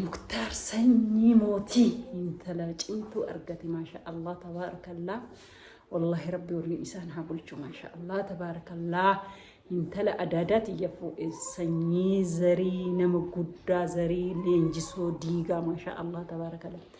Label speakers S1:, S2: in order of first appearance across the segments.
S1: Muktaar sanyii mootii intala cimtuu argate maasha Allah tabaarakallaa. Wallaahi rabbi waliin isaan haa bulchu maasha Allah tabaarakallaa. Intala adaadaa tiyya fuudhe sanyii zarii nama guddaa zarii leenjisoo diigaa maasha Allah tabaarakallaa.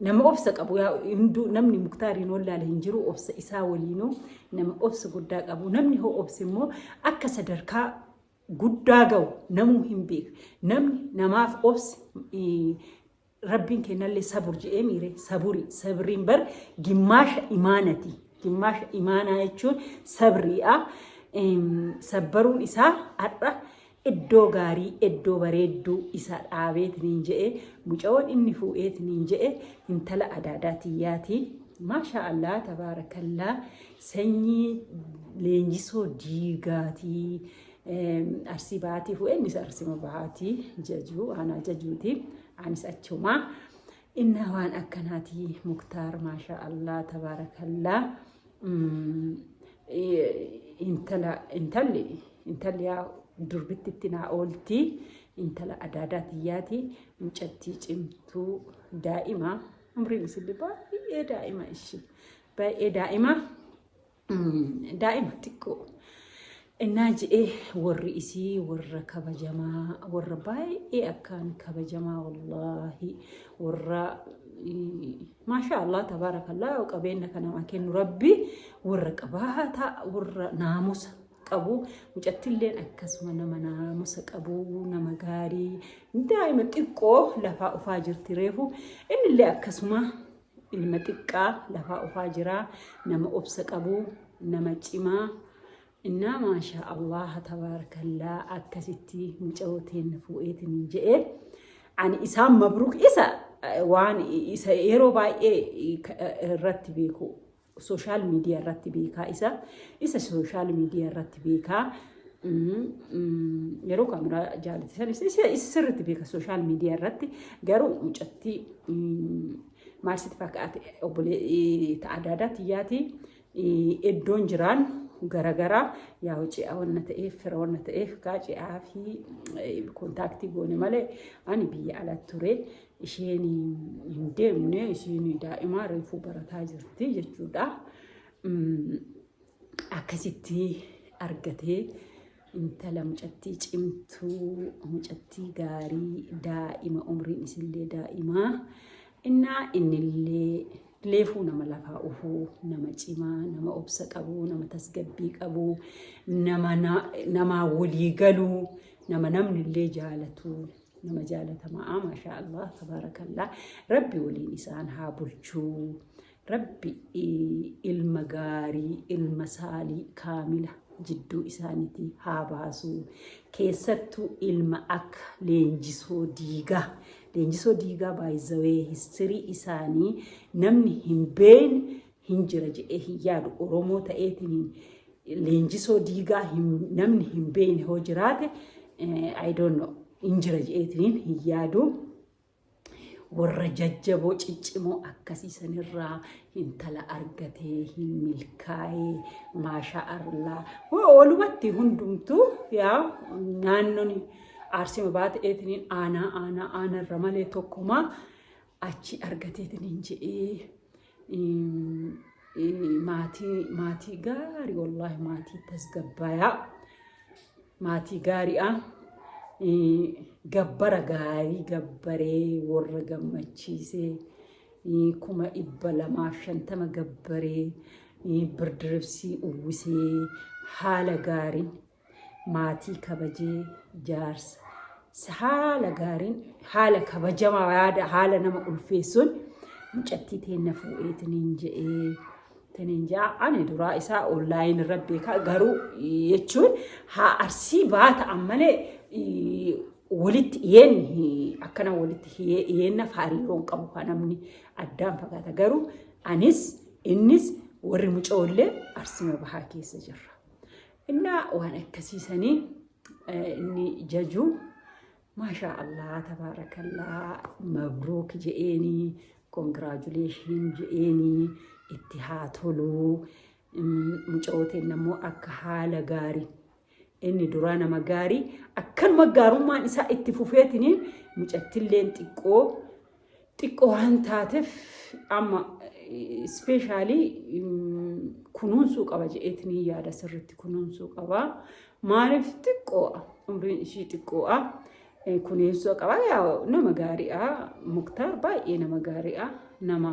S1: Nama obsa qabu yaa hunduu namni muktaariin wallaale hin jiru obsa isaa waliinuu nama obsa guddaa qabu namni hoo obse immoo akka sadarkaa guddaa ga'u namuu hin beeku namni namaaf obse eh, rabbiin kennallee sabur je'ee miire saburi sabriin bar gimmaasha imaanati gimmaasha imaanaa jechuun sabriidha Em, sabbaruun isaa har'a Eddoo gaarii eddoo bareedduu isa dhaabeetiniin je'e mucayoon inni fuu'eetiniin je'e hintala adaadaa tiyyaati maashaa allaa tabaarakallaa sanyii leenjisoo diigaatii arsii bahaatii fuu'e innis arsima bahaatii jajuu aanaa jajuuti anis achumaa innaa waan akkanaatii muktaar maashaa allaa tabaarakallaa intala intalli intalli yaa durbittitti naa oolti intala adaadaa tiyyaati mucattii cimtuu daa'ima umriin isillee baay'ee daa'ima ishii baay'ee daa'ima daa'ima xiqqoo Innaa je'ee warri isii warra kabajamaa warra baay'ee akkaan kabajamaa wallaahi warra maashaa Allah tabaarakallaa qabeenya kan namaa kennu rabbi warra qabaata warra naamusa qabu mucattilleen akkasuma nama naamusa qabu nama gaarii daa'ima xiqqoo lafaa ufaa jirti reefu innillee akkasuma Ilma xiqqaa lafaa ofaa jiraa nama obsa qabuu nama cimaa innaa maashaa allaha tabaarakallaa akkasitti muca'oo teenna fuu'eetiniin je'ee ani isaan mabruuk isa waan isa yeroo baay'ee irratti beeku Sooshaal miidiyaa irratti beekaa isa isa sooshaal miidiyaa irratti beekaa yeroo kaameraa jaalate sanis isa sirriitti beeka sooshaal miidiyaa irratti garuu mucattii maal sitti fakkaate obbolee adda addaa tiyyaati iddoon jiraan garaagaraa yaa hojii wanna ta'eef fira wanna ta'eef kaa ce'aa fi kontaaktii goone malee ani biyya ala ture isheen hin deemne isheen daa'imaa reefuu barataa jirti jechuudha. Akkasitti argatee intala mucattii cimtuu mucattii gaarii daa'ima umriin isillee daa'imaa innaa innillee leefuu nama lafaa ufuu nama cimaa nama obsa qabuu nama tasgabbii qabuu nama namaa walii galuu nama namnillee jaalatuu nama jaalatamaa maashaa allah tabaarakallaa rabbi waliin isaan haa bulchuu rabbi ilma gaarii ilma saalii kaamila jidduu isaaniitii haa baasu keessattuu ilma akka leenjisoo diigaa leenjisoo diigaa baay'izawee histirii isaanii namni hin beekne hin jira jedhee hin yaadu Oromoo ta'eetiin leenjisoo diigaa namni hin beekne hoo jiraate I don't know hin jira jedheetiin hin yaadu. Warra jajjaboo ciccimoo akkasii sanirraa intala argatee hin milkaa'ee maashaa arlaa. Walumatti hundumtuu yaa naannoon aarsima baate eetiniin aanaa aanaa aanarra malee tokkumaa achi argateetiniin jedhee maatii maatii gaarii wallaahi maatii tasgabbaayaa maatii gaariidha. Gabbara gaarii gabbaree warra gammachiisee kuma dhibba lamaaf shantama gabbaree birdirbsii uwwisee haala gaariin maatii kabajee jaarsa isa haala gaariin haala kabajamaa yaada haala nama ulfeessuun mucattii teenna fuudhee tiniin je'ee tiniin je'a ani duraa isaa onlaayin irra beekaa garuu jechuun haa arsii baata ammalee walitti dhiyeenyi akkana walitti dhiyeenna hariiroon qabu kan namni addaan fagaata garuu anis innis warri mucoollee arsima bahaa keessa jirra. Innaa waan akkasii sanii eh, inni jajuu maashaa Allah tabaarakallaa mabruuk je'eenii kongiraajuleeshin je'eenii itti haa toluu Mm, mucooteen ammoo akka haala gaarii inni duraa nama gaarii akkanuma gaarummaan isaa itti fufeetiniin mucattilleen xiqqoo xiqqoo waan taatef amma ispeeshaalii kunuunsuu qaba jedheetinii yaada sirriitti kunuunsuu qaba. Maaliif xiqqoo'a umriin ishii xiqqoo'a kunuunsuu qaba yaa nama gaariidha muktaar baay'ee nama gaariidha nama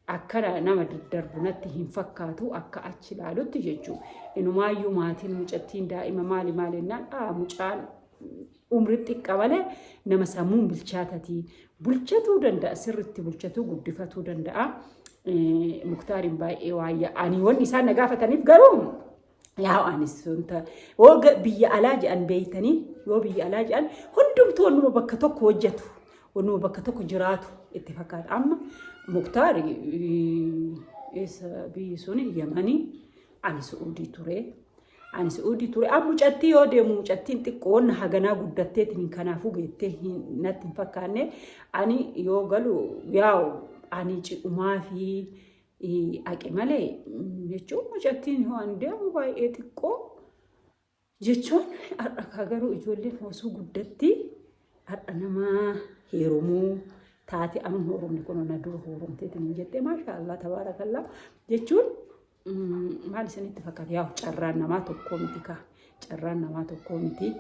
S1: akka nama daddarbu natti hin fakkaatu akka achi ilaalutti jechuudha. Inumaayyuu maatiin mucattiin daa'ima maali maali jennaan aa mucaan umri xiqqa malee nama sammuun bilchaatatii bulchatuu danda'a sirritti bulchatuu guddifatuu danda'a. Muktaariin baay'ee waayya ani wanni isaan na gaafataniif garuu Yaa anis wanta woga biyya alaa jedhan beeytanii yoo biyya alaa jedhan hundumtu wannuma bakka tokko hojjetu wannuma bakka tokko jiraatu itti fakkaata amma muktaar isa biyyi sun yamanii ani su'uudii ture ani su'uudii ture amma mucattii yoo deemu mucattiin xiqqoon haganaa guddatteetiin kanaafuu beettee natti hin fakkaanne ani yoo galu yaa'u ani ci'umaa fi Aqe malee jechuun mucattiin waan deemu baay'ee xiqqoo jechuun har'akaa garuu ijoolleen osoo guddatti har'a namaa heerumuu taate amma heerumni kun na dura heerumteetiin hin jettee maashaallah tabaarakallaa jechuun maal isinitti fakkaata yaa carraan namaa tokkoo miti kaa carraan namaa tokkoo miti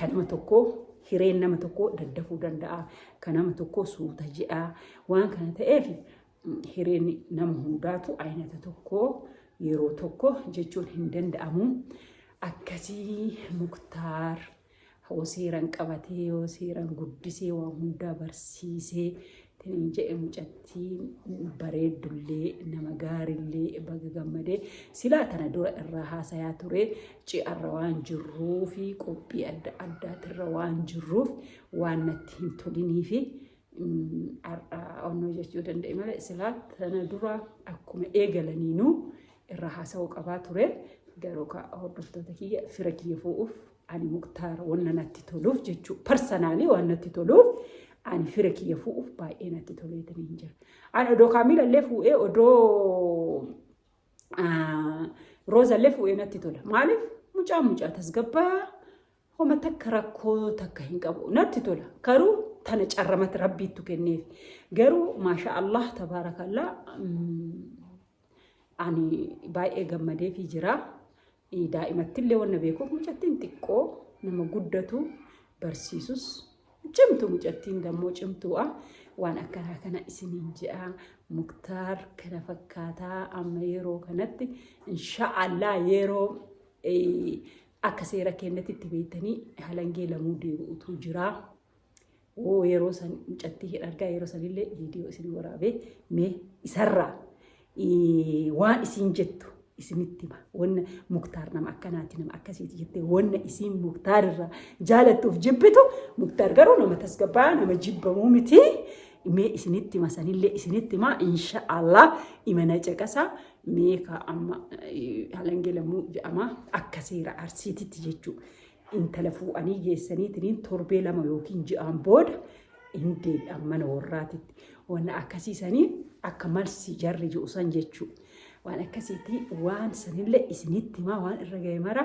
S1: kan nama tokkoo hireen nama tokkoo daddafuu danda'a kan nama tokkoo suuta jedha waan kana ta'eef hireen nama hundaatu aynata tokko yeroo tokko jechuun hin danda'amu. Akkasii muktaar hoo seeran qabatee yoo seeran guddisee waa hundaa barsiisee tiniin jedhe mucattiin bareeddullee nama gaarillee baga gammadee silaa tana dura irraa haasayaa ture ci'arra waan jirruu fi qophii adda addaatirra waan jirruuf waan natti hin tolinii fi har'aa onnoo jechuu danda'e malee silaa sana dura akkuma eegalaniinuu irraa haasa'uu qabaa ture garuu ka hordoftoota kiyya fira kiyya fu'uuf ani muktaar wanna natti toluuf jechuu parsanaalii waan natti toluuf ani fira kiyya fu'uuf baay'ee natti toleetanii hin jira. Ani odoo kaamiila illee fu'ee odoo rooza illee fu'ee natti tola maaliif mucaa mucaa tasgabbaa Homa takka rakkoo takka hin qabu. Natti tola. Garuu tana carramatti rabbiittu kenneef. Garuu maasha Allah tabaarakallaa ani baay'ee gammadeefii jira. Daa'imattillee wanna beekuuf mucattiin xiqqoo nama guddatu barsiisus cimtu mucattiin dammoo cimtuudha. Waan akkanaa kana isiniin je'a muktaar kana fakkaataa amma yeroo kanatti insha'Allah yeroo Akka seera keenyatitti beektanii halangee lamuu deebi'utu jira. Oo yeroo san mucattii hin argaa yeroo sanillee viidiyoo isin waraabee mee isarraa eh, waan isin jettu isinitti hima. Wanna muktaar nama akkanaati nama akkasiiti jettee wanna isin muktaar irraa jaalattuuf jibbitu muktaar garuu nama tasgabbaa'aa nama jibbamuu miti. Mee isinitti hima sanillee isinitti hima insha Allah imana caqasa mee ka amma eh, halangee lammuu jedhama akka seera arsiititti jechuu intala fuudhanii geessaniitiin torbee lama yookiin ji'aan booda hin deebi'an mana warraatitti waan akkasiisanii akka malsi jarri ji'u san jechuu waan akkasiitii waan sanillee isinitti hima waan irra ga'e mara